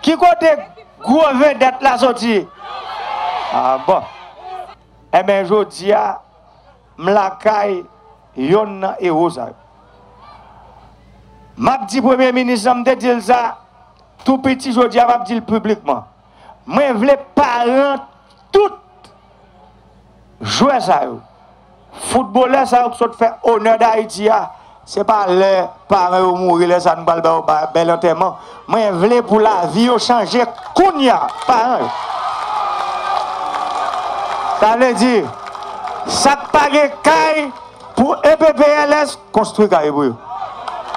Ki kote gwo vedèt la soti? Ah bon. Enben jodi a m lakay yonn nan ewo sa yo. M ap di premye minis lan, m te di l sa tou piti jodi a m ap di l piblikman, mwen vle paran tout. Jwè sa yo, foutbolè sa yo ki sot fè onè Dayiti a, se pa lè paran yo mouri lè sa nou pral ba yo bèl antèman. Mwen vle pou lavi yo chanje kounye a, paran yo. Sa vle di, sa k pa gen kay pou EPPLS konstwi kay pou yo,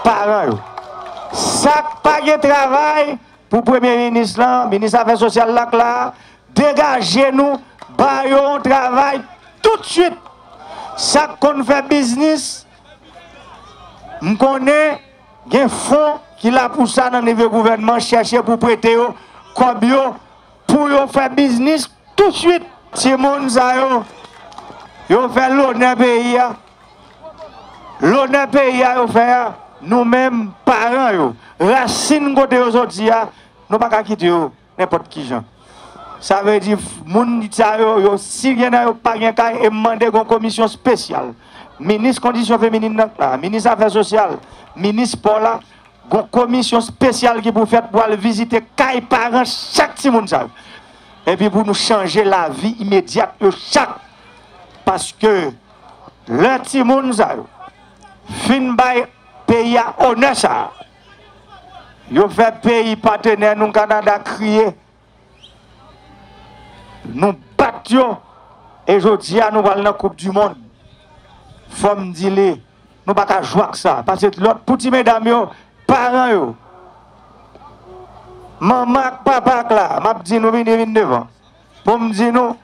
paran yo. Sa k pa gen travay pou premye minis lan, minis afè sosyal la k la a, Degaje nou ba yo yon travay tout swit. Sak konn fè biznis m konnen gen fon ki la pou sa nan nivo gouvènman chèche pou prete yo kòb yo pou yo fè biznis tout swit. Timoun sa yo yo fè lonè peyi a. Lonè peyi a yo fè a nou menm paran yo rasin kote yo soti a nou pa ka kite yo. Nenpòt kijan. Sa vle di moun sa yo, yo si gen nan yo pa gen kay e m mande gen yon komisyon spesyal, minis kondisyon feminin nan k la, minis afè sosyal, minis spò la, gen yon komisyon spesyal ki pou fèt pou al vizite kay paran chak timoun sa yo. Epi pou nou chanje lavi imedyat yo chak. Paske lè timoun sa yo fin bay peyi a onè sa a, Yo fè peyi patenè nou Kanada kriye. Nou bat yo e jodi a nou pral nan koup di mond. Fò m di li nou pa ka jwe ak sa. Pase lòt pou ti medam yo, paran yo. Manman ak papa ak la, m ap di nou vini vin devan. Bon m di nou,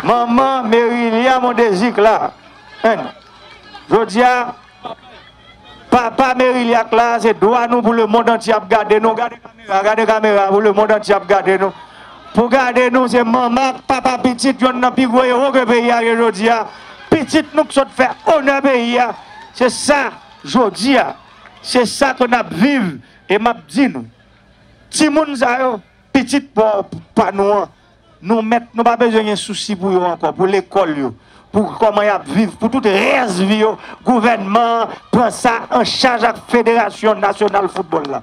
manman Merilia Mondésir Claire, n. Jodi a, papa Merilia Claire se dwa nou pou lemond antye ap gade nou, gade kamera, gade kamera pou lemond antye ap gade nou, pou gade nou se manman ak papa pitit yonn nan pi gwo ewo ke peyi a gen jodi a, pitit nou k sot fè onè peyi a, se sa jodi a, se sa ke n ap viv e m ap di nou. Ti moun sa yo, pitit pa nou an, nou mèt, nou pa bezwen gen sousi pou yo ankò, pou lekòl yo, pou kòman y ap viv, pou tout rès vi yo, gouvènman an pran sa an chaj ak federasyon nasyonal foutbòl la.